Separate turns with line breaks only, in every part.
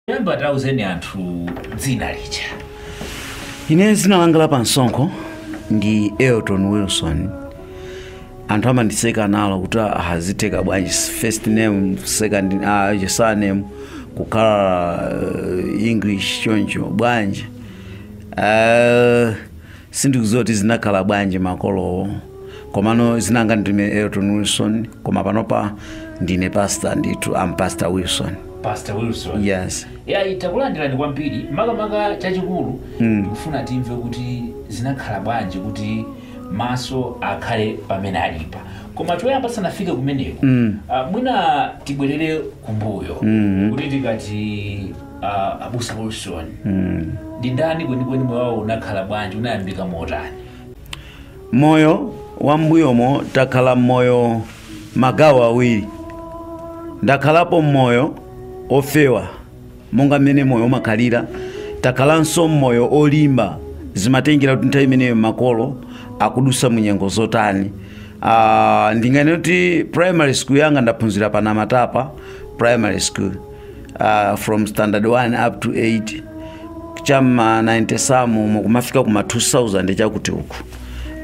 Yamba tauzeni anthu dzina
lija. Ine dzina langa la pansonkho ndi Elton Wilson. Anthu amandiseka nalo kuti ah zitheka bwanji first name, second uh, surname kukhala uh, English choncho bwanji. Uh, sindikudziwa kuti zinakhala bwanji makolowo. komano dzina langa ndine elton wilson koma panopa ndine pastor ndithu am pastor wilson pastor
wilson yes yayi
takulandirani
kwambiri makamaka chachikulu ndikufuna timve kuti zinakhala bwanji kuti maso akhale pamene alipa koma choyamba tisanafike kumeneko Ah, mwina tibwerere kumbuyo kuti tikati ah, abusa wilson ndi ndani kwenikweni moyo wawo unakhala bwanji unayambika motani
Moyo wa m'mbuyomo takhala m'moyo magawo awiri. Ndakhalapo m'moyo ofewa monga mmene moyo umakhalira, takhalanso m'moyo olimba zimatengera kuti nthawi imeneyo makolo akudutsa mu nyengo zotani. Uh, ndinganene kuti primary school yanga ndaphunzira pa Namatapa primary school uh, from standard 1 up to 8 cha mma 90s amu kumafika kuma 2000 chakuti uku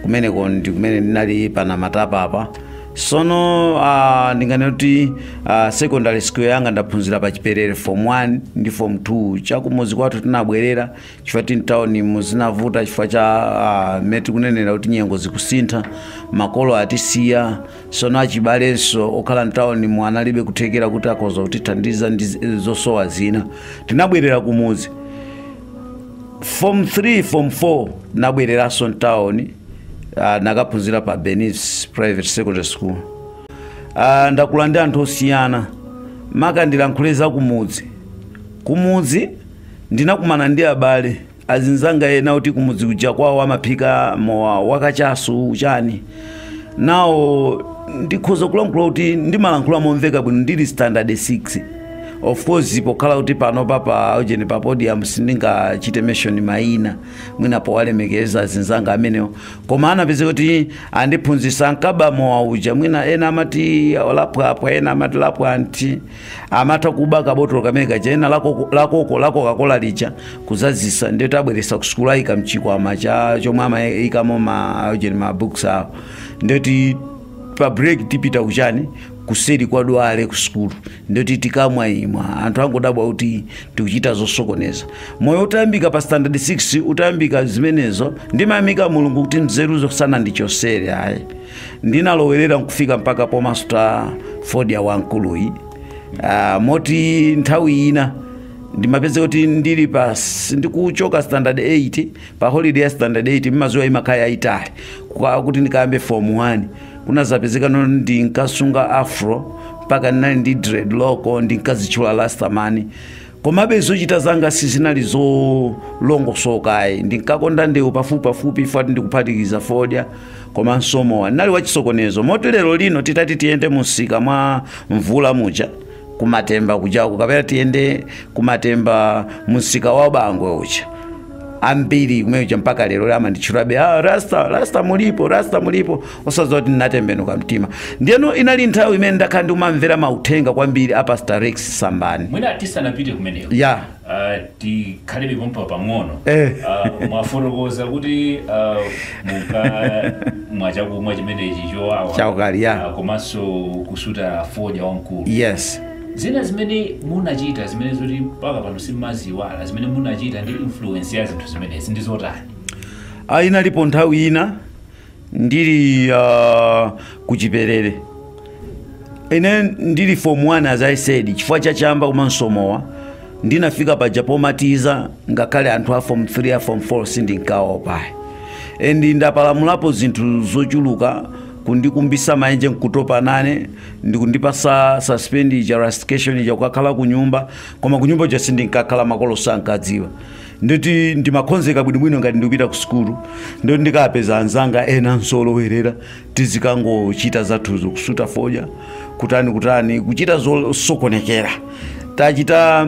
kumeneko ndi kumene ndinali pa Namatapa apa sono uh, ndinganene kuti uh, secondary school yanga ndaphunzira pa chiperere form 1 ndi form 2 chakumudzi kwathu tinabwerera chifukwa choti mtawuni mu zinavuta chifukwa cha uh, mmene tikunenera kuti nyengo zikusintha makolo atisiya Sono achibalenso okhala mtaunimu analibe kuthekera kuti akhoza kutithandiza ndi zi- zosowa zina tinabwerera kumudzi form 3 form 4 ndabwereranso mtauni uh, ndakaphunzira pa benis private secondary school uh, ndakula ndi anthu osiyana maka ndilankhule za kumudzi kumudzi ndinakumana ndi abale azinzanga ena oti kumudzi kuja kwawo amaphika mowa wakachasu uchani nawo ndikhoza kulankhula kuti ndimalankhula momveka bwino ndili standard 6 of course pokhala kuti panopa pa ujeni pa podium sindingachite mention mayina mwina powalemekeza azinzanga amenewo koma anapezeka kuti andiphunzitsa ankaba mowa uja mwina ena amati lapwapwa ena amati lapwanti amati akuba kabotolo kamene kaja ena la koko- la koko- la coca-cola lija kudzadzitsa ndiye ati abweretsa kusukulu ayika mchikwama cha chomwe amayikamo ma ujeni ma books awo ndiye kuti pa break tipita kuchani kuseri kwa dwale kusukulu ndiye kuti tikamwa imwa anthu angodabwa kuti tikuchita zosokoneza moyo utayambika pa standard 6 utayambika zimenezo ndimayamika mulungu kuti nzeruzo sanandichotsere ayi Ndinalowerera n'kufika mpaka pomasuta fodya wamkuluyu. Ah, moti nthawi ina ndimapezeka kuti ndili pa ndikuchoka standard 8 pa holiday ya standard 8 mumadziwa imakhala yayitali kuti ndikayambe form 1 kunazapezeka no ndinkasunga afro mpaka ndinali ndi dreadlock ndinkadzitchula Rastaman Komabe zochita zanga sizinali zolongosoka ayi. Ndinkakonda ndewu pafupipafupi ifati ndikuphatikiza fodya komanso mowa. Ndinali wachisokonezo. Moti lerolino titati tiyende mumsika mwa Mvula muja ku Matemba kujako kapena tiyende ku Matemba mumsika wa Bangwe uja, ambiri kumene kuja mpaka lero amanditchulabe, ah, Rasta, Rasta mulipo, Rasta mulipo. osadziwa kuti ndinatembenuka mtima ndiyeno inali nthawi imene ndakhala ndikumamvera mauthenga kwambiri a pastor rex sambani mwina
tisanapite kumeneko ya uh, tikhalebe pompa pang'ono Eh. uh, mwafotokoza kuti uh, mukamwa chakumwa chimenechi chowawa Chaukali, yeah.
Ah,
komanso kusuta fodya wamkulu
yes zina
zimene munachita zimene zoti mpaka pano simumaziyiwala zimene munachita ndi influence ya zinthu zimenezi ndi zotani Ah, inalipo
nthawi ina ndili uh, kuchiperere ine ndili form 1 as i said chifukwa cha chamba komanso mowa ndinafika paja pomateaser ngakhale anthu a form 3 a form 4 sindinkaopa and ndapalamulapo zinthu zochuluka kundikumbisa maenje nkutopa nane n'kundipatsa suspension ija rustication ija kukakhala kunyumba koma kunyumba uja sindinkakhala makolo sankadziwa nditi ndimakhonzeka bwinobwino ngati ndikupita ku sukulu ndoti ndikapeza anzanga ena olowerera tizikangochita zathuzo kusuta fodya kutani kutani kuchita zosokonekera tachita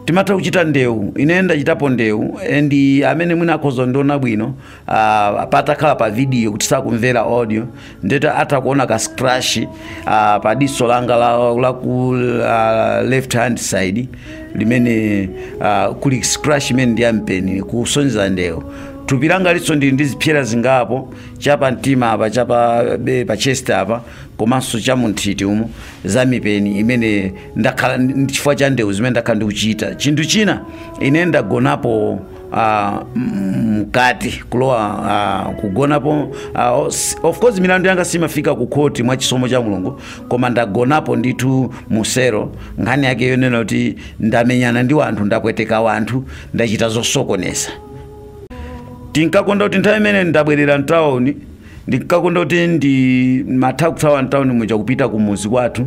timatha kuchita ndewu ine ndachitapo ndewu and amene mwina akhoza ndiona bwino uh, patakhala pa video kuti sakumvera audio ndetu atha kuona ka scratch uh, pa diso langa la, la ku uh, left hand side limene uh, kuli scratch imene ndi yampeni kusonyeza ndewu thupi langali nso ndili ndi zipsera zingapo chapa mtima apa chapa be pa chest apa komanso cha munthiti umo za mipeni imene ndakhala ndi- chifukwa cha ndewu zimene ndakhala ndikuchita chinthu china ine ndagonapo uh, mkati kulowa uh, kugonapo uh, os- of course milandu yanga siimafika ku khoti mwa chisomo cha mulungu koma ndagonapo ndithu mu cell nkhani yake yonena kuti ndamenyana ndi wanthu ndapweteka wanthu ndachita zosokoneza tinkakonda kuti nthawi imene ndabwerera mtawuni ndinkakonda kuti ndimatha kuthawa mtawuni muja kupita kumuzi kwathu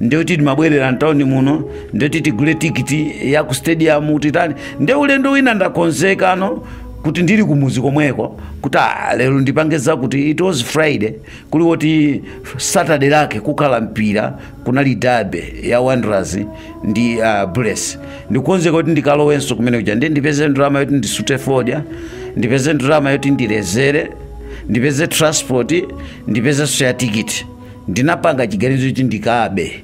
ndiyoti timabwerera mtawuni muno ndiyoti tigule tikiti ya ku stadium titani ndi ulendo wina ndakonzekano kuti ndili kumuzi komweko kuti ah, lero ndipange zakuti it was friday kuli woti saturday lake kukhala mpira kunali derby ya wanderers ndi uh, bullets ndikonzeka kuti ndikalowenso kumene kuja ndi ndipeze ndalama yoti ndisute fodya ndipeze ndalama yoti ndilezere ndipeze transport ndipezenso ya tikiti ndinapanga chiganizo kuti ndikabe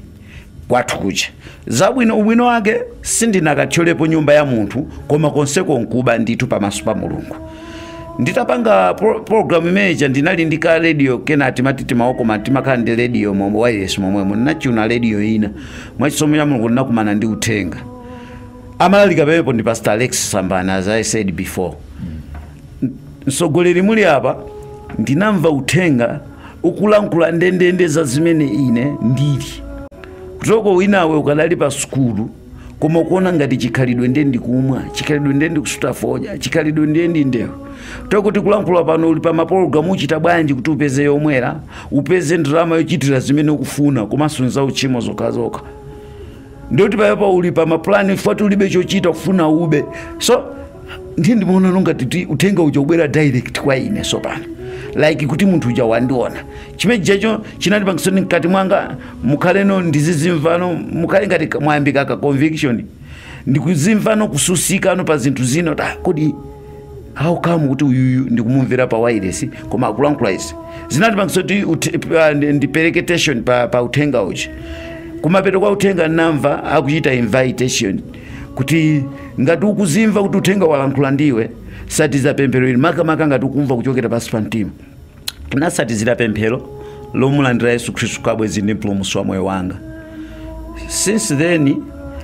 kwathu kucha zabwino ubwino wake sindinakathyolepo nyumba ya munthu koma konseko nkuba ndithu pamaso pa mulungu nditapanga pro- programu imeneja ndinali ndi ka radio kena timati mtima okoma timakhala ndi radio momwe wireless momwemo nachuna radio ina mwachisomo cha mulungu ndinakumana ndi uthenga amalalika pamenepo ndi pastor alex sambani as i said before msogoleri muli apa ndinamva uthenga ukulankhula ndendende za zimene ine ndili kuti oke winawe ukadali pa sukulu koma kuona ngati chikhalidwe ndiye ndikumwa chikhalidwe ndiye ndikusuta fodya chikhalidwe ndiye ndi ndewu tokuti kulankhula pano uli pa mapulogalamu uchita bwanji kuti upeze yomwera upeze ndalama yochitira zimene ukufuna komanso nzauchimo zokhazokha ndiye kuti payapa uli pa mapulani chifukwa choti ulibe chochita kufuna ube so ndiye ndimaona no ngati uthenga uja ubwera direct kwa ine so pano like kuti munthu uja wandiona chimenechijacho chinandipangisano mkati mwanga mukhaleno ndizizimvano mukhale ngati ka- mwayambika ka conviction ndikuzimvano kutsutsikano pa zinthu zino ta kodi how come kuti uyuyu ndikumumvera pa wireless koma akulankhula izi zinandipangisa kuti ut- pa- ndi- ndipereke attention pa, pa uthenga uja kumapeto kwa uthenga namva akuchita invitation kuti ngati ukuzimva kuti uthenga walankhula ndiwe satiza pemphero ili makamaka ngati ukumva kuchokera pansi pa mtima nasatizira pemphero lomulandira yesu khristu ngati bwenzi ndi mpulumutsi wa moyo wanga since then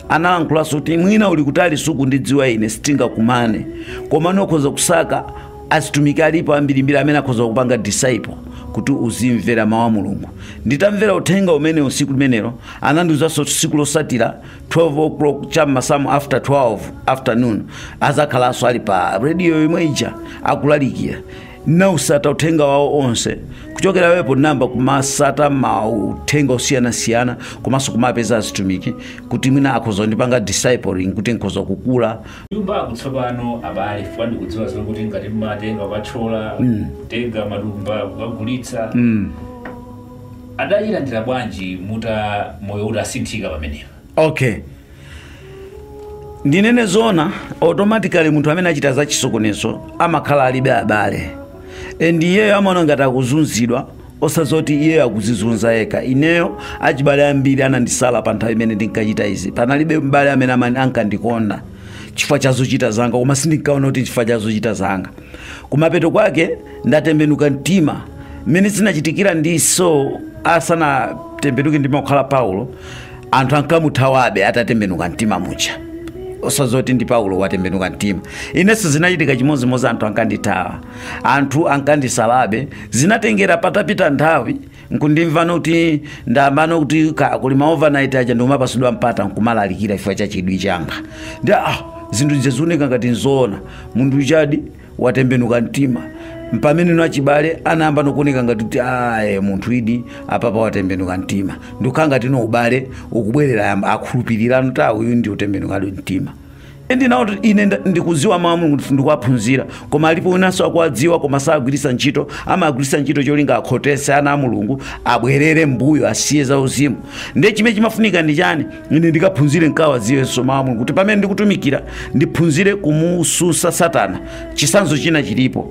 analankhulaso kuti mwina uli kutali sukundidziwa ine sitingakumane koma ukhoza kusaka azitumiki alipo ambirimbiri amene akhoza kukupanga disciple kuti uzimvera mawu a mulungu nditamvera uthenga umenewu usiku limenelo anandiuzanso kuti tsiku losatira 12 o'clock cha m'masanamu after 12 afternoon azakhalanso ali pa radio yomwe ija akulalikira nawusata uthenga wawo onse kuchokera apo nayamba kumasata mauthenga osiyanasiyana komanso kumapeza azitumiki kuti mwina akhoza kundipanga discipling kuti nkhoza kukula kunyumba
kutsopano abale chifukwa ndikudziwa zokuti ngati mmatenga kwathyola kutenga matumba kukagulitsa adachilandira bwanji mutu wa moyo utasinthika pamenepo okay
ndinene zoona automatically munthu amene achita za chisokonezo amakhala alibe abale and iyeyo amaona ngati akuzunzidwa osazoti iyeyo akuzizunza yekha ineyo achibale ambiri anandisala pa nthawi imene ndinkachita izi panalibe mbale amene amani- ankandikonda chifukwa cha zochita zanga koma sindinkaona kuti chifukwa cha zochita zanga kumapeto kwake ndatembenuka mtima mmene zinachitikira ndi saulo asanatembenuke ndikukhala paulo anthu ankamuthawabe atatembenuka mtima muja osazoti ndi paulo watembenuka mtima inenso zinachitika chimodzimodzi anthu ankandithawa anthu ankandisalabe zinatengera patapita nthawi nkundimvano kuti ndayambano kuti ka- kuli maovernight aja ndikumapasidwa mpata nkumalalikira chifukwa cha chidwi changa ndi ah zinthu zija zioneka ngati nzoona munthu ujadi watembenuka mtima mpamene nachibale anayamba nokuoneka ngati kuti aye munthu idi apapa watembenuka mtima ndikukhala ngati no ubale ukubwerera ayamba kukhulupirira kuti awu uyu ndi otembenukadi mtima ndinawo kuti ine nda- ndikudziwa mawu a mulungu kuti ndikuwaphunzira koma alipo winanso akuwadziwa koma sagwiritsa ntchito amagwiritsa ntchito cholinga akhotese ana a mulungu abwerere mbuyo asiye za uzimu ndiye chimene chimafunika ndi chani ine ndikaphunzire nkawaziwenso mawu a mulungu kuti pamene ndikutumikira ndiphunzire kumususa satana chisanzo china chilipo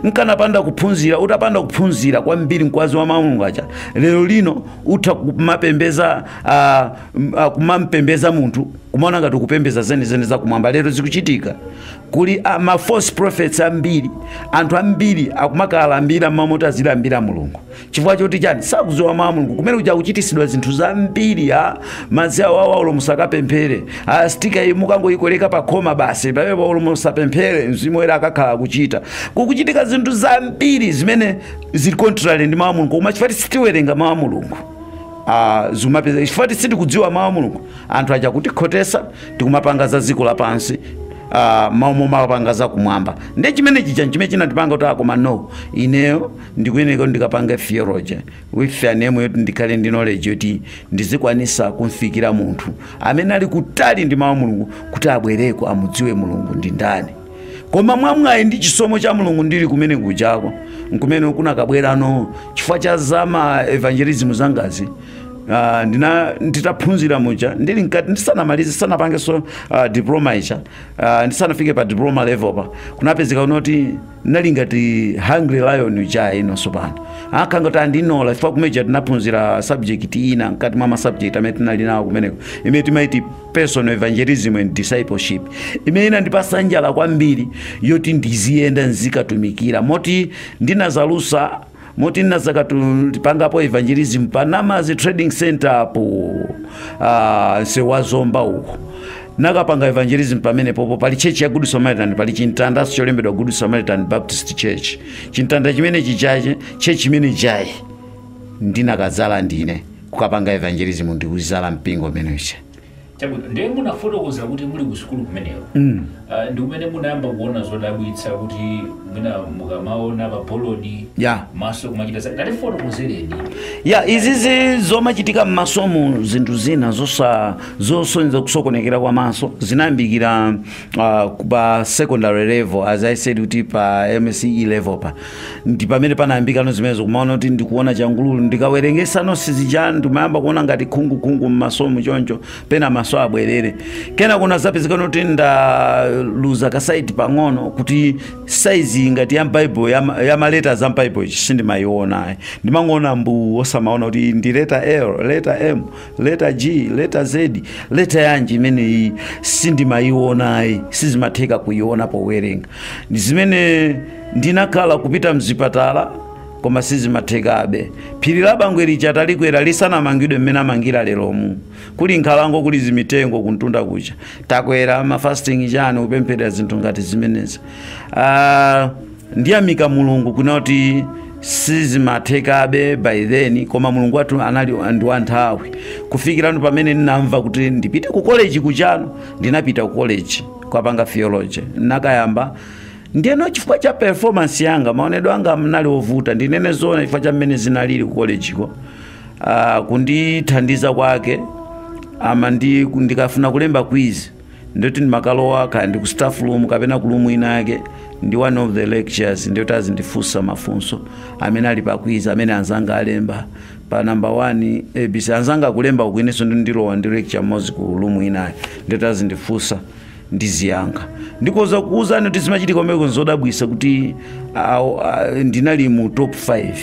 nkanapanda kuphunzira utapanda kuphunzira kwambiri nkozowa mawu a mulungu aja lero lino utha kumapembeza ah, m- ah, kumampembeza munthu kumaona ngati kupembeza zenizeni zakumwamba lero zikuchitika kuli ah, ma false prophets ambiri anthu ambiri akumakalambira mmamount azilambira mulungu chifukwa choti chani sakudziwa mawu a mulungu kumene kuja kuchitisidwa zinthu zambiri ai madzi awa awa olo musakapemphere ai stika iyi mukangoyikoleka pa khoma basi pamene po olo musapemphere mzimu woyera akakhala akugwira ntchito kukuchitika zinthu zambiri zimene zili contrary ndi mawu a mulungu koma chifukwa sitiwerenga mawu a mulungu Ah, zimapezeka chifukwa sitikudziwa mawu a mulungu anthu aja akutikhotesa tikumapanga za dziko lapansi ah, mmalo momapanga za kumwamba ndiye chimene chija chimene chinandipanga kuti akoma no ineyo ndikuyeneka kuti ndikapange theology with an aim yoti ndikhale ndi knowledge yoti ndizikwanisa kumfikira munthu amene ali kutali ndi mawu a mulungu kuti abwereko amudziwe mulungu ndi ndani koma mwamwayi ndi chisomo cha mulungu ndili kumene kujako nkumene kunakabwerano chifukwa cha zama evangelism zangazi Uh, ndina nditaphunzira muja ndili mkati ndisanamalize sanapangeso uh, diploma ija uh, ndisanafike pa diploma level pa kunapezekano kuti nali ngati hungry lion uja inenso pano akhala ngati andinola chifukwa kumeja tinaphunzira subject ina mkati mwa masubject amene tinali nawo kumeneko imene timaiti personal evangelism and discipleship imene inandipasa njala kwambiri yoti ndiziyenda nzikatumikira moti ndinazalusa moti ndinazakapangapo evangelism pa namadzi trading center apo uh, sewa zomba uko nakapanga evangelism pamene popo pali church ya good samaritan pali chimtandaso cholembedwa good samaritan baptist church chimtanda chimene chichache church chimene chija ndinakazala ndine kukapanga evangelism ndikuzala mpingo umeneche Chabwino,
ndiye munafotokoza kuti muli ku sukulu kumeneko mm. uh, ndi kumene munayamba kuona zodabwitsa kuti mwina mukamaona pa bolodi yeah. maso kumachita chani tatifotokozereni ya
izizi zomachitika m'masomu zinthu zina zosonyeza kusokonekera kwa maso zinayambikira uh, pa secondary level as i said kuti pa msce level pa ndi pamene panayambikano zimenezo kumaona kuti ndikuona changululu ndikawerengesa notes zichani ndimayamba kuona ngati khungukhungu mmasomu choncho pena maso abwerere kenaka kunazapezekano kuti ndaluza kasaiti pang'ono kuti saizi ngati ya bible ya maletas a bible sindimayiona ayi ndimangoona mbu osamaona kuti ndi leta l leta m leta g leta z leta yanji imeneyi sindimayiona ayi sizimatheka kuyiona powerenga Ndi zimene ndinakhala kupita mzipatala koma sizimathekabe phiri la bangwe lija talikwera lisanamangidwe mmene amangira leromu kuli nkhalango kuli zimitengo kumtunda kuja takwera mafasting chani kupempherera zinthu ngati zimenezi Ah, ndiyamika mulungu kunali kuti sizimathekabe by then koma mulungu wathu anali ndi wa nthawi kufikirano pamene ndinamva kuti ndipite ku college kujano ndinapita ku college kukapanga theology ndinakayamba ndiyeno chifukwa cha performance yanga maonedwe anga mnali ovuta ndinene zoona chifukwa cha mmene zinalili ku collegeko uh, kundithandiza kwake ama ndi ndikafuna kulemba quiz ndiyoti ndimakalowa kaya ndi ku staff room kapena ku room ina yake ndi one of the lectures ndiyoti azindifunsa mafunso amene ali pa quiz amene anzanga alemba pa number 1 abc anzanga akulemba uku inenso ndilowa ndi lecture mmodzi ku room inayo ndiyoti azindifunsa ndiziyankha ndikoza kuuzani kuti zimachitika kumeneko nzodabwisa kuti awo, ah, ndinali mu top 5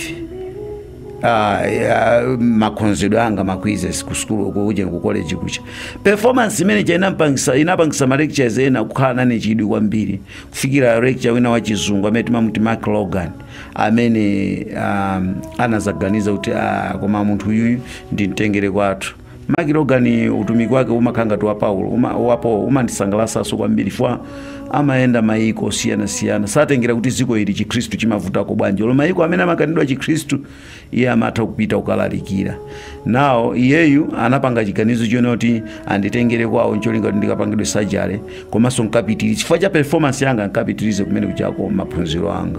Ah, ah, makhonzedwe anga ma quizzes ku school uko kuja ku college kuja performance imene ija inampangisa inapangisa ma lectures ena kukhala nane chidwi kwambiri kufikira lecture wina wa chizungu amene timamuti Mark Logan amene um, anazaganiza kuti ah, koma munthu uyuyu ndimtengere kwathu Mark Logan utumiki wake umakhala ngati wa Paulo uma, wapo umandisangalasanso kwambiri fwa amayenda mayiko osiyanasiyana satengera kuti dziko ili chikhristu chimavutako bwanji olo mayiko amene amakanidwa chikhristu iye amatha kupita kukalalikira nawo iyeyu anapanga chiganizo chonena kuti anditengere kwawo ncholinga kuti ndikapangidwe surgery komanso nkapitirize chifukwa cha performance yanga nkapitirize kumene kujako maphunziro anga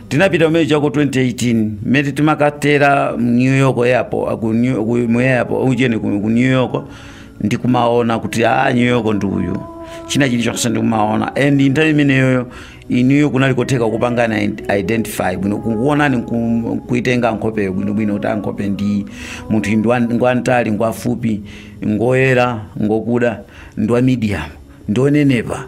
Tinapita kumene kujako 2018 mmene timakatera New York airport ku New ku mu airport ujeni ku ku New York ndikumaona kuti ah New York ndi uyu china chilichonse ndikumaona and nthawi imeneyoyo inuyo kunali kotheka kupanga ident- identify bwino kukuonani nku- kuitenga nkhopeyo bwinobwino kuti nkhope ndi munthu iyi ndi wa- ngwamtali ngwafupi ngoyera ngokuda ndi wa medium ndi onenepa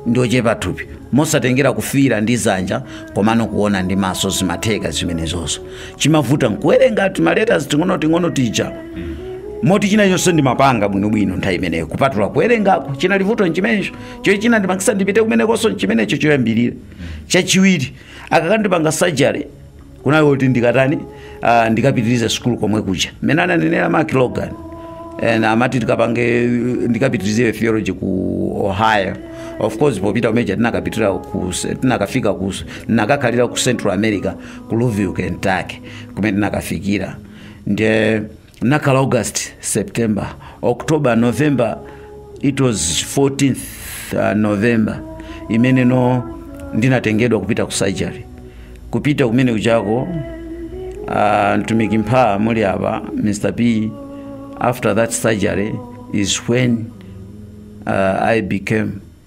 ndi ochepa thupi mosatengera kufila ndi dzanja komano kuona ndi maso zimatheka zimenezozo chimavuta nkuwerenga timaletas ting'onoting'ono tija moti china chonse ndimapanga bwinobwino nthawi imeneyo kupatula kuwerengako chinali vuto nchimenecho cho china chinandipangitsa ndipite kumenekonso nchimenecho choyambirira chachiwiri akakandipanga surgery kunali kuti ndikatani uh, ndikapitirize sukulu komwe kuja mmene ananenera mark logan and amati tikapange ndikapitirize theology ku ohio of course popita kumene kuja tinakapitira ku tinakafika ku tinakakhalira ku central america ku louisville kentucky kumene tinakafikira nde Nakhala August, September, October, November, it was 14th uh, November imeneyo ndinatengedwa kupita ku surgery kupita kumene kujako uh, mtumiki mmene muli apa Mr. P after that surgery is when uh, I became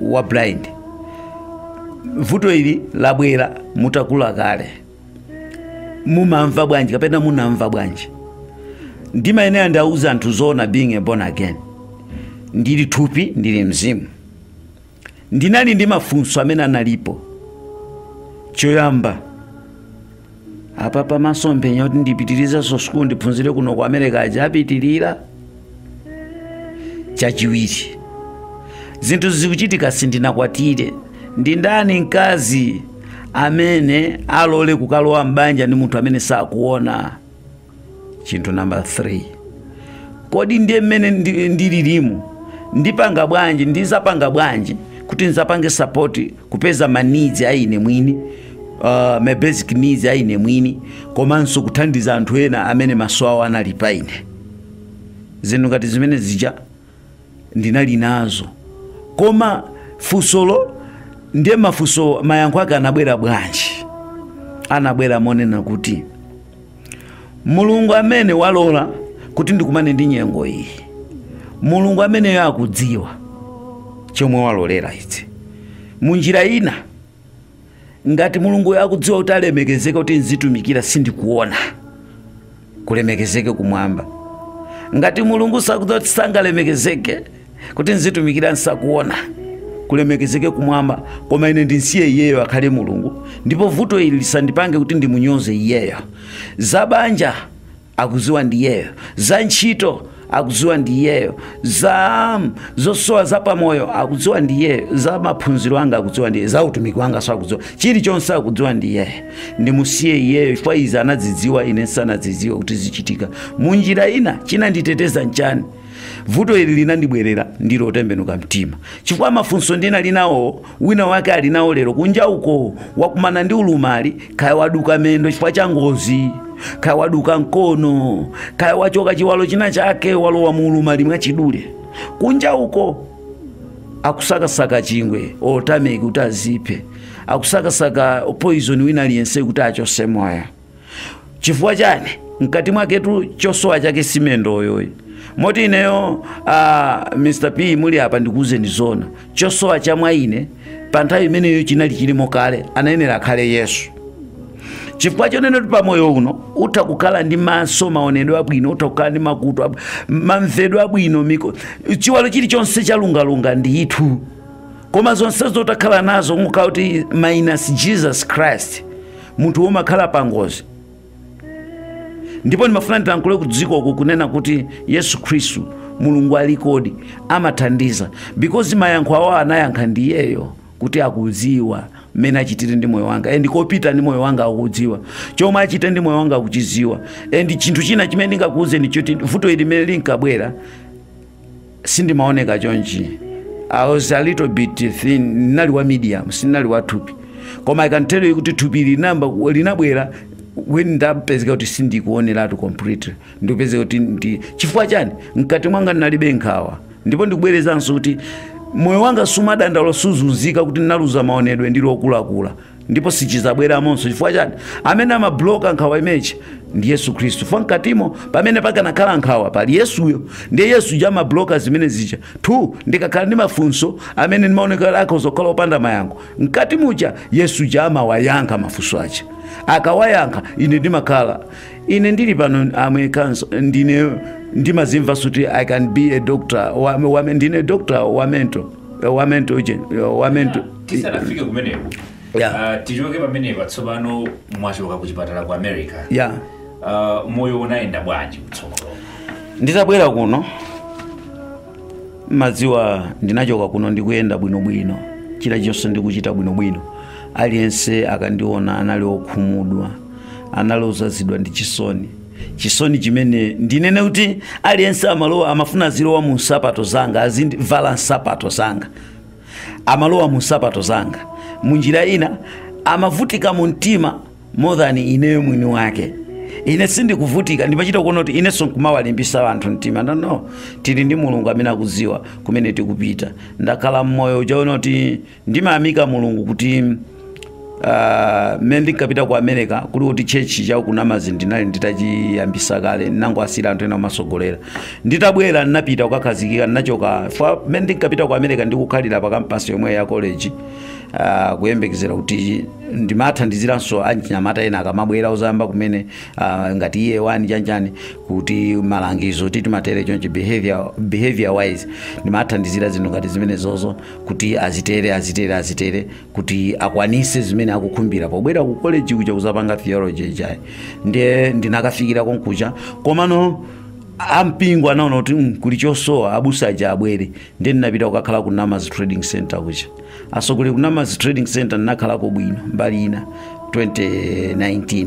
wa blind vuto ili labwera mutakula kale mumamva bwanji kapena munamva bwanji ndimayenera ndiwauze anthu zoona being a born again ndili thupi ndili mzimu ndinali ndi mafunso amene analipo choyamba aja masomphenya kuti ndipitirizenso sukulu ndiphunzire kuno ku america aja apitirira chachiwiri zinthu zikuchitika sindinakwatire ndi ndani mkazi amene alole kukalowa m'banja ndi munthu amene sakuona chinthu namba 3 kodi ndiye mmene ndi- ndililimu ndipanga bwanji ndizapanga bwanji kuti ndizapange sapoti kupeza ma needs a ine mwini uh, ma basic needs a ine mwini komanso kuthandiza anthu ena amene maso awo anali pa ine zinthu ngati zimene zija ndinali nazo koma funsolo ndiye mafunso mayankho ake anabwera bwanji anabwera monena kuti mulungu amene walola kuti ndikumane ndi nyengo iyi mulungu ameneyo akudziwa chomwe walolera izi munjira ina ngati mulunguyo akudziwa kuti alemekezeke kuti nzitumikira sindikuona kulemekezeke kumwamba ngati mulungu sakudziwa kuti sangalemekezeke kuti nzitumikira nsakuona kulemekezeke kumwamba koma ine ndinsiye iyeyo akhale mulungu ndipo vuto ili lisandipange kuti ndimunyoze iyeyo zabanja akuziwa ndiyeyo za ntchito akuziwa ndiyeyo za zosowa za pamoyo akuziwa ndiyeyo za maphunziro anga akuziwa ndiyeyo za utumiki wanga so akuziwa chilichonse akuziwa ndiyeyo ndimusiye iyeyo chifukwa izi anadzidziwa ine nsanadzidziwe kuti zichitika munjira ina chinanditeteza nchani vuto ili linandibwerera ndili wotembenuka mtima chifukwa mafunso ndinali nawo wina wake ali nawo lero kunja uko wakumana ndi ulumali kaya waduka mendo chifukwa cha ngozi kaya waduka mkono kaya wachoka chiwalo china chake walowa mu ulumali mwachidule kunja uko akusakasaka chingwe tameki kuti aziphe akusakasaka poison wina aliyense kuti achose moyo chifukwa chani mkati mwaketu chosowa chake si mendoyo ayi moti ineyo uh, mr p muli apa ndikuwuzeni zona chosowa cha mwa ine pa nthawi imeneyo chinali chilimo kale anayenera akhale yesu chifukwa chonena kuti pamoyo uno utha kukhala ndi maso maonedwe abwino utha kukhala ndi makutu ab- mamvedwe abwino miko chiwalo chilichonse chalungalunga ndithu koma zonsezo utha kukhala nazo nkukhala kuti minus jesus christ munthu umakhala pa ngozi ndipo ndimafuna ndilankhule ku dziko uku kunena kuti yesu khristu mulungu alikodi ndipo amathandiza because mayankho awo anayankha ndi iyeyo kuti akudziwa mmene achitire ndi moyo wanga and kopita ndi moyo wanga akudziwa chomwe achite ndi moyo wanga akuchidziwa and chinthu china chimene ndingakuwuzeni choti vuto ili limene linkabwera sindimaoneka chonchi i was a little bit thin ndinali wa medium sindinali wa thupi koma i can tell you kuti thupi ili linabwera when ndapezeka kuti sindikuoneratu completely ndikupezeka kuti ndi chifukwa chani mkati mwanga ndinalibe nkhawa ndipo ndikubwerezanso kuti moyo wanga sumadandaula suzunzika kuti ndinaluza maonedwe ndili wokulakula ndipo sichizabweramonso chifukwa chani amene amabloka nkhawa imeneyi ndi yesu khristu chifukwa mkatimo pamene pakanakhala nkhawa pali yesuyo ndiye yesu ja amabloka zimene zija two ndikakhala ndi mafunso amene ndimaonekera akhoza kukhala opanda mayankho mkati muja yesu ja amawayankha mafunso aja akawayankha ine ndimakhala ine ndili pano and mwinanso ndine ndimazimva kuti i can be a doctor wa, wa, ndine doctor wa mental Eh, wamen to ujeni Eh, wamen to tisanafike
kumeneko Yeah. Ah, tichoke pamenepa tsopano mwachoka ku chipatala ku america ya Ah, moyo unayenda bwanji kutsogolo nditabwera
kuno madziwa ndinachoka kuno ndikuyenda bwinobwino china chilichonse ndikuchita bwinobwino aliyense akandiona anali okhumudwa anali ozazidwa ndi chisoni chisoni chimene ndinene kuti aliyense amalowa amafuna azilowa mu nsapato zanga azindivala nsapato zanga amalowa mu nsapato zanga munjira ina amavutika mu mtima more than ineyo mwini wake ine sindikuvutika ndimachita kuona kuti inenso nkumawalimbisa anthu mtima no no tili ndi mulungu amene akudziwa kumene tikupita ndakhala mmoyo uchaona kuti ndimayamika mulungu kuti ah, mmene ndinkapita ku america kuli kuti chechi cha ku Namadzi ndinali nditachiyambisa kale nangowasiyira anthu ena kumasogolera nditabwera ndinapita kukakhazikika ndinachoka fa mmene ndinkapita ku america ndikukhalira pa kampasi yomwe ya college ah, kuyembekezera kuti ndimathandiziranso anyamata ena akamabwera uzayamba kumene ah, ngati year one chanichani kuti malangizo titimatere chonchi behavior, behavior wise ndimathandizira zinthu ngati zimenezozo kuti azitere azitere azitere kuti akwanise zimene akukhumbira pobwera ku college kuja kuzapanga theology ijayi ndiye ndinakafikira konkuja komano ampingo anaona kuti "Mm, kuli chosowa abusa aja abwere ndiye ndinapita kukakhala ku Namadzi trading center kuja asogole ku Namadzi trading center ndinakhalako bwino mbali ina 2019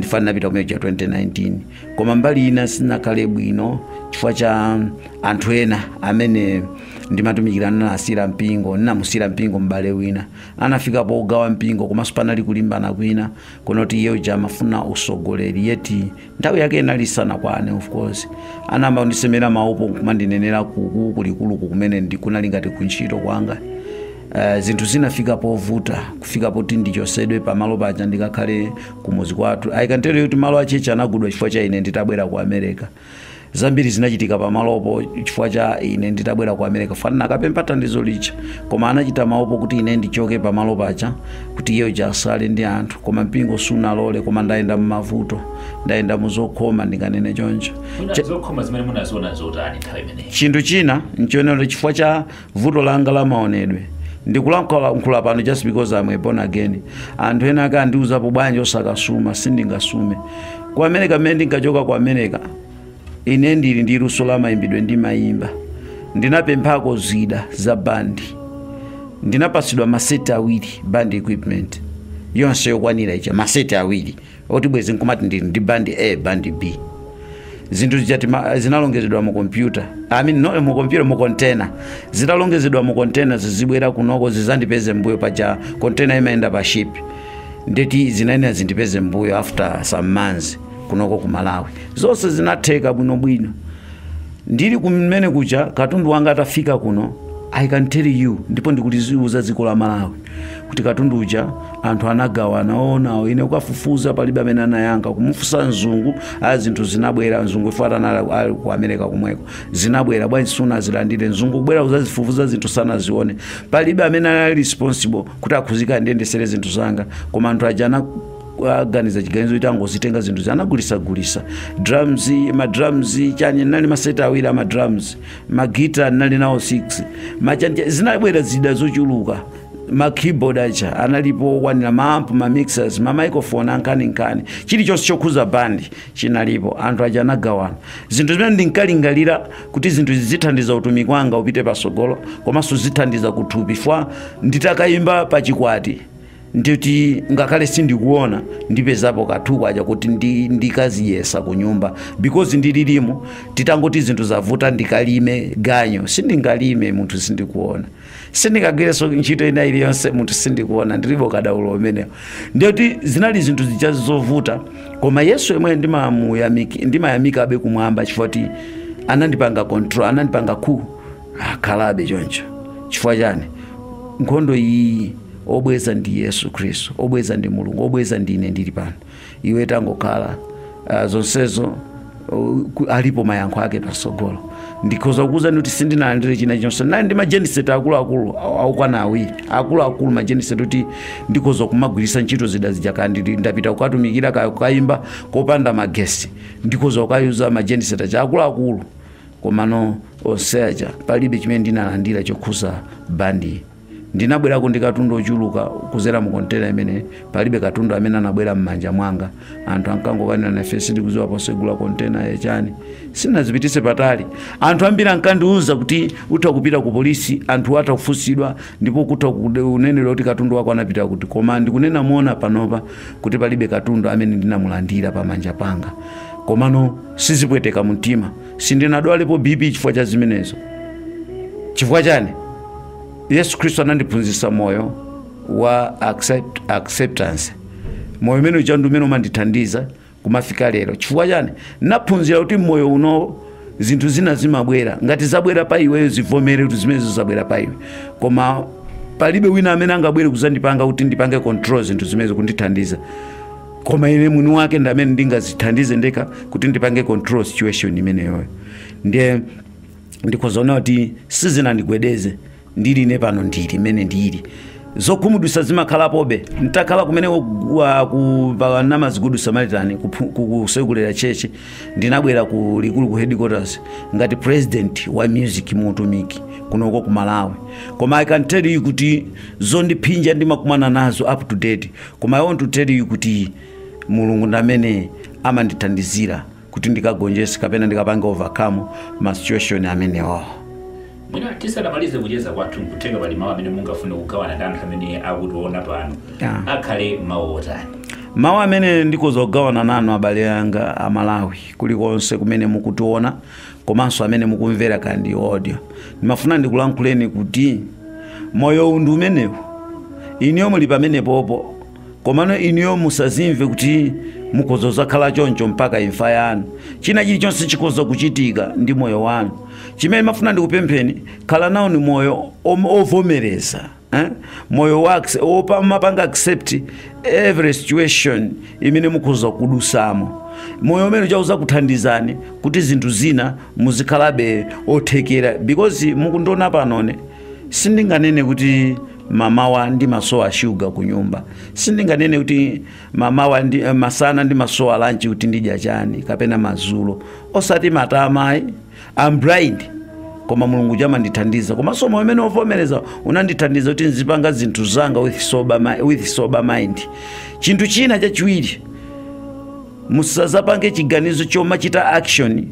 chifukwa ndinapita ku America 2019 koma mbali ina sinakhale bwino chifukwa cha anthu ena amene ndimatumikira nawo ndinasiyira mpingo ndinamusiyira mpingo m'bale wina anafika pogawa mpingo komanso panali kulimbana kwina konoti iye uja amafuna usogoleri yet nthawi yake inali isanakwane of course anayamba kundisemera maupo kumandinenera kuku kulikulu kumene ndi- kunali ngati kuntchito kwanga Uh, zinthu zinafika povuta kufika poti ndichosedwe pamalo paja ndikakhale kumuzi kwathu i can tell you kuti malo achechi anagulidwa chifukwa cha ine nditabwera ku america zambiri zinachitika pamalopo chifukwa cha ine nditabwera ku america chifukwa nnakapempha thandizo lija koma anachita maupo kuti ine ndichoke pamalo paja kuti iye uja asale ndi anthu koma mpingo sunalole koma ndayenda mumavuto ndayenda muzokhoma ndinganene choncho Muna- zokhoma zimene
munaziona zotani nthawi imeneyi chinthu china
nchionera chifukwa cha vuto langa la maonedwe ndikulankhula pano just because I'm a born again anthu ena akandiuzapo bwanji osakasuma sindingasume ku america mmene ndinkachoka ku america ine ndili ndi luso la mayimbidwe ndimayimba ndinapemphako zida za bandi ndinapasidwa maseti awiri band equipment yonse yokwanira ija maseti awiri oti bwezi nkumati ndili ndi bandi a bandi b zinthu zija zinalongezedwa mu kompyuta no, mu kompyuta mu kontena zitalongezedwa mu kontena zizibwera kunoko zizandipeze mbuyo paja kontena imayenda pa ship ndeti zinayenera kuti zindipeze mbuyo after some months kunoko ku malawi zonse zinatheka bwinobwino ndili kumene kuja katundu wanga atafika kuno i can tell you ndipo ndikuliziuza dziko la malawi kuti katundu uja anthu anagawana oonawo ine kukafufuza palibe amene anayankha kumufunsa mzungu a zinthu zinabwera mzungu ife tinali tili ku america komweko zinabwera bwanji sunazilandire mzungu kubwera kuzazifufuza zinthu sanazione palibe amene anali responsible kuti akhudzika ndiyendesere zinthu zanga koma anthu aja ana aganiza chiganizo kuti angozitenga zinthu anagulisagulisa drums madrums chani nali maseti awiri amadrums magita ndinali nawo 6 machancha zinabwera zida zochuluka ma keyboard aja analipo okwanira maamp ma mixers ma microphone ankhaninkhani chilichonse chokhuza bandi chinalipo anthu aja anagawana zinthu zimene ndinkalingalira kuti zinthu zizithandiza utumiki wanga upite pasogolo komanso zithandiza kuthupi chifwa nditakayimba pa chikwati ndikuti ngakhale sindikuona ndipezapo kanthu kuja kuti ndi- ndikazidyetsa ku nyumba because ndililimo titangoti zinthu zavuta ndikalime ganyo sindingalime munthu sindikuona sindingagwirenso ntchito ina iliyonse munthu sindikuona ndilibe ukadaulo umenewo ndikuti zinali zinthu zija zovuta koma yesu yemwe ndimamuyamiki- ndimayamikabe kumwamba chifukwa kuti anandipanga control anandipanga cool khalabe choncho chifukwa chani nkhondo iyi obweza ndi yesu khristu obweza ndi mulungu obweza ndine ndili pano iwe tangokhala uh, zonsezo uh, ku- alipo mayankho ake pasogolo ndikhoza kukuuzani kuti sindinalandire china chonse nali ndi majeniseti akuluakulu au- aukwana awiri akuluakulu majeniseti kuti ndikhoza kumagwiritsa ntchito zida zija kaya ndili- ndapita kukatumikira kaya kukayimba kopanda magesi ndikhoza kukayatsa majeniseti aja akuluakulu komano onse aja palibe chimene ndinalandira chokhuza bandi ndinabwerako ndi katundu ochuluka kuzera mu kontena imene palibe katundu amene anabwera m'manja mwanga anthu ankangokanira nafe sindikuziwa posegula kontena yachani sinazipitise patali anthu ambiri ankandiuza kuti utha kupita ku polisi anthu atha kufunsidwa ndipo atha kunenera kuti katundu wako anapita kuti koma ndikunena moona panopa kuti palibe katundu amene ndinamulandira pamanja panga komano sizipweteka mumtima sindinadwalepo bp chifukwa cha zimenezo chifukwa chani yesu khristu anandiphunzitsa moyo wa acceptance moyo umene uja ndi umene umandithandiza kumafika lero chifukwa chani naphunzira kuti m'moyo uno zinthu zina zimabwera ngati zabwera pa iweyo zivomere kuti zimenezo zabwera pa iwe koma palibe wina amene angabwere kuzandipanga kuti ndipange control zinthu zimenezo kundithandiza koma ine mwini wake ndi amene ndingazithandize ndekha kuti ndipange control situation imeneyoyo ndiye ndikhozaona kuti sizinandigwedeze ndili ine pano ndili imene ndili zokhumudwisa zimakhalapobe ntakhala kumene ku Namazi Good Samaritan kusekulira church ndinabwera ku likulu ku headquarters ngati president wa music muutumiki kunoko ku malawi koma i can tell you kuti zondiphinja ndimakumana nazo up to date koma i want to tell you kuti mulungu ndi amene amandithandizira kuti ndikagonjese kapena ndikapange overcome ma situation amenewo mwina
tisanamalize kucheza kwathu nkutheka pali mawu amene mungafune kugawana ndi anthu amene akutiona pano Yeah. akhale mawu otani mawu amene
ndikhoza kugawana nanu abale anga amalawi kulikonse kumene mukutiona komanso amene mukumvera kaya ndi audio ndimafuna ndikulankhuleni kuti moyo uwu ndi umenewu inuyo muli pamenepopo komano inuyo musazimve kuti mukhoza kuzakhala choncho mpaka imfa yanu china chilichonse chikhoza kuchitika ndi moyo wanu chimene mafuna ndikupempheni khala nawoni moyo om- ovomereza eh? moyo wa acce- womapanga accept every situation imene mukhoza kudusamo moyo umenewo uza kuthandizani kuti zinthu zina muzikhalabe othekera because mukundiona panone sindinganene kuti mmamawa ndimasowa shuga ku nyumba sindinganene kuti mamawa ndi eh, masana ndimasowa lanchi kuti ndidya chani kapena mazulo osati matamayi I'm blind koma mulungu amandithandiza komanso moyo umenewo wovomereza unandithandiza kuti nzipanga zinthu zanga with sober, mi- with sober mind chinthu china chachiwiri musazapange chiganizo chomachita action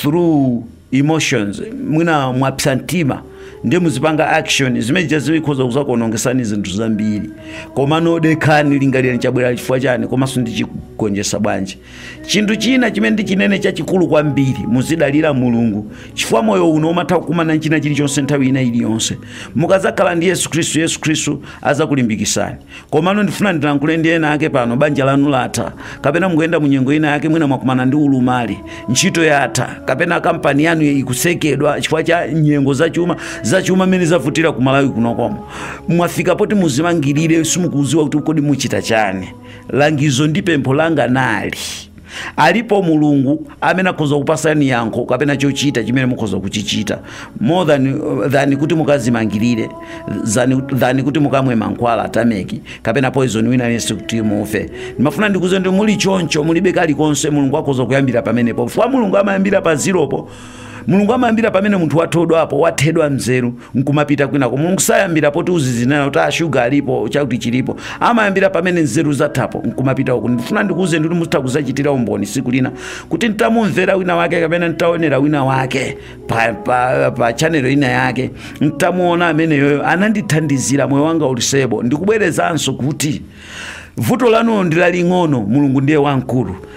through emotions mwina mwapsa mtima ndiye muzipanga action zimenezo zikhoza kuzakuonongesani zinthu zambiri koma modekha lingalirani chabwera chifukwa chani komanso ndichigonjesa bwanji chinthu china chimene ndichinene chachikulu kwambiri muzidalira mulungu chifukwa moyo uno umatha kukumana ndi china chilichonse nthawi ina iliyonse mukadzakhala ndi yesu khristu yesu khristu adzakulimbikitsani komano ndifuna ndilankhule ndi ena ake pano banja lanu latha kapena mukuyenda mu nyengo ina yake mwina mwakumana ndi ulumali ntchito yatha kapena kampani yanu ikusekedwa chifukwa cha nyengo zachuma mmene zavutira ku malawi kunoko mwi- mwafika poti muzimangirire simukuziwa kuti kodi muchita chani langizo ndi pempho langa nali alipo mulungu amene akhoza kupasani yankho kapena chochita chimene mukhoza kuchichita more than, than kuti mukazimangirire than, than kuti mukamwe mankhwala a tameki kapena poison wina aliyense kuti mufe ndimafuna ndikuuzeni muli choncho mulibe kalikonse mulungu akhoza kuyambira pamenepo chifukwa mulungu amayambira pa ziropo mulungu amayambira pamene munthu wathodwapo wathedwa mzeru nkumapita kwinako mulungu sayambira poti uzizinena kuti ashuga alipo chakuti chilipo amayambira pamene nzeru zathapo nkumapita uku ndifuna ndikuuze ndikuti mutha kuzachitira umboni siku lina kuti ntamumvera wina wake kapena ntaonera wina wake pa, pa, pa chanelo ina yake ntamuona ameneyoyo anandithandizira moyo wanga uli sebo ndikubwerezanso kuti vuto lanu ndilaling'ono mulungu ndiye wamkulu